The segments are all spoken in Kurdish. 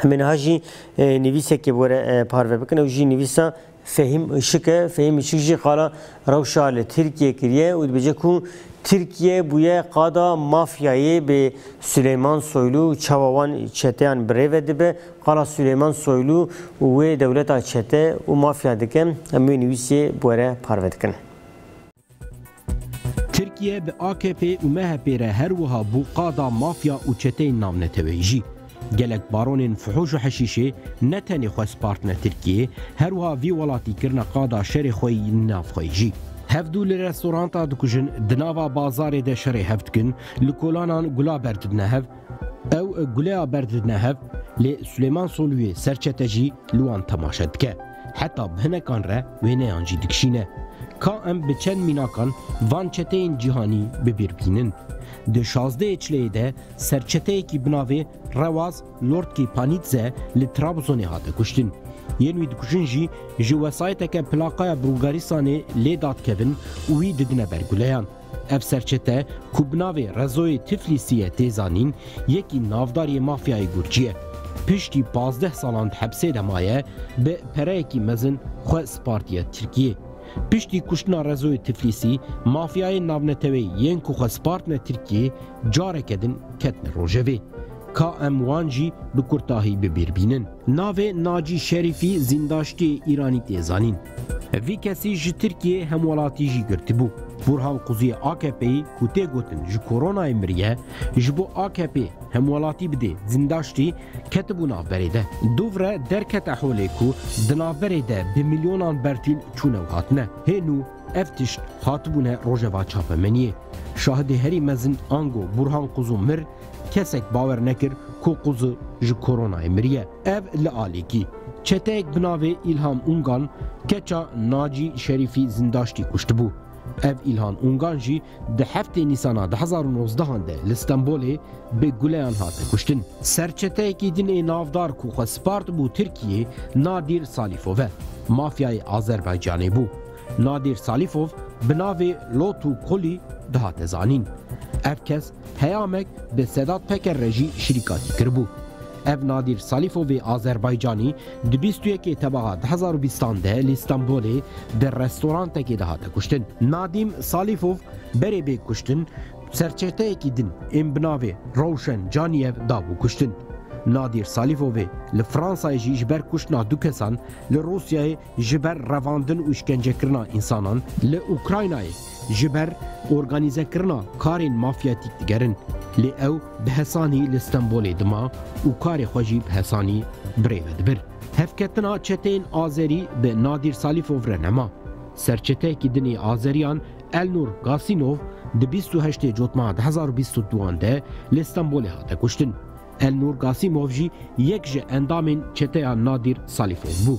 Em ê niha jî nivîsekê bi were parve bikin. Ew jî nivîsa Fehîm Işık e. Fehîm Işık jî qala rewşa li Tirkiye kiriye û dibêje ku Tirkiye bûye qada mafyayê bê Sileyman Soylu çawa wan çeteyan bi rê ve dibe. Qala Sileyman Soylu û wê dewleta çete û mafya dike. Em wê nivîsê bi were parve dikin. Tirkiye bi AKP'ê û MHP'ê re her wiha bû qada mafya û çeteyên navneteweyî jî. Gelek baronên fuhûş û heşîşê ne tenê xwe spartine Tirkiyeyê, her wiha vî welatî kirine qada şerê xwe yî nav xwe yî jî. Hevdû li restoranta dikujin, di nava bazarê de şerê hev dikin, li kolanan gula ber didine hev, ew guleya ber didine hev, lê Suleyman Soluyê serçete jî li wan temaşe dike. Heta bi hinekan re wêneyan jî dikişîne. Ka em bi çend mînakan van çeteyên cîhanî bi bîr bînin. Di şazdeyê çileyê de serçeteyekî bi navê Rewaz Lortki Panidze li Trabzonê hate kuştin. Yên wî dikujin jî ji wesayeteke plaqaya Bulgaristanê lê dadikevin û wî didine ber guleyan. Ev serçete ku bi navê Rezoyê Tiflîsî ye tê zanîn, yekî navdar yê mafyayê Gurcî ye. Piştî pazdeh salan di hepsê de maye, bi pereyekî mezin xwe spartiye Tirkiyê. Piştî kuştina Rezoyê Tiflîsî, mafyayên navneteweyî yên ku xwe spartine Tirkiyê careke din ketine rojevê. Ka em wan jî bi kurtahî bi bîr bînin. Navê Nacî Şerîfî zîndaştiyê Îranî tê zanîn. Vî kesî ji Tirkiyê hemwelatî jî girtibû. Bûrhan Quziyê AKP'yî ku tê gotin ji koronayê miriye, ji bo AKP'ê hemwelatî bidê zîndaştî, ketibû navberê de. Dûvre derkete holê ku di navberê de bi milyonan bertîl çûne û hatine. Hênû ev tişt hatibûne rojeva çapemeniyê. Şahidê herî mezin ango Bûrhan Quzu mir, Kesek bawer nekir ku Quzu ji koronayê miriye. Ev li alîkî, çeteyek bi navê Îlham Ungan keça Nacî Şerîfî zindaştî kuştibû. Ev Îlhan Ungan jî di heftê Nîsana di hezar û nozdehan de li Stenbolê bi guleyan hate kuştin. Serçeteyekî din ê navdar ku xwe spartibû Tirkiyê Nadîr Salîfov e, mafyayê Azerbaycanê bû. Nadîr Salîfov bi navê Lotu Kulî dihate zanîn. Ev kes Peyamek bi Sedat Peker re jî şirîkatî kiribû. Ev Nadîr Salîfovê Azerbaycanî di bîst û yekê tebaxa du hezar û bîstan de li Stenbolê di restorantekê de hate kuştin. Nadîm Salîfov berê bê kuştin serçeteyekî din ên bi navê Rewşen Caniyev dabû kuştin. Nadîr Salîfovê li Fransayê jî ji ber kuştina du kesan li Rûsyayê ji ber revandin û şkencekirina însanan li Ukraynayê ji ber organîzekirina karên mafyatîk digerin. Lê ew bi hesanî li Stenbolê dima û karê xwe jî bi hesanî birêve dibir. Hevketina çeteyên azerî bi Nadîr Salîfov re nema. Serçeteyekî din ê azeriyan Elnur Gasînov di bîst û heştê cotmara di hezar û bîst û duan de li Stenbolê hate kuştin. Elnûr Gasîmov jî yek ji endamên çeteya Nadîr Salîfov bû.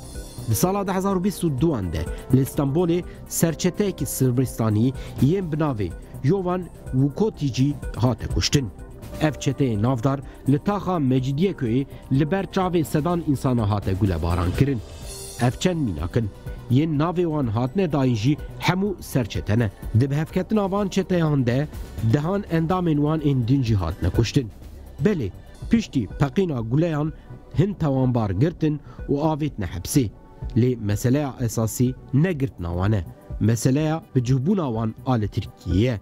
Di sala du hezar û bîst û du an de li Stenbolê serçeteyekî Sırbistanî yên bi navê Yovan Wukotîcî hate kuştin. Ev çeteyê navdar li taxa Mecidiyeköyê li ber çavê sedan însanan hate gulebaran kirin. Ev çend mînak in. Yên navê wan hatine dayîn jî hemû serçete ne. Di bihevketina van çeteyan de dehan endamên wan ên din jî hatine kuştin. Belê, piştî peqîna guleyan hin tawanbar girtin û avêtine hepsê. Lê meseleya esasî ne girtina wan e, meseleya bicihbûna wan a li Tirkiyeyê ye.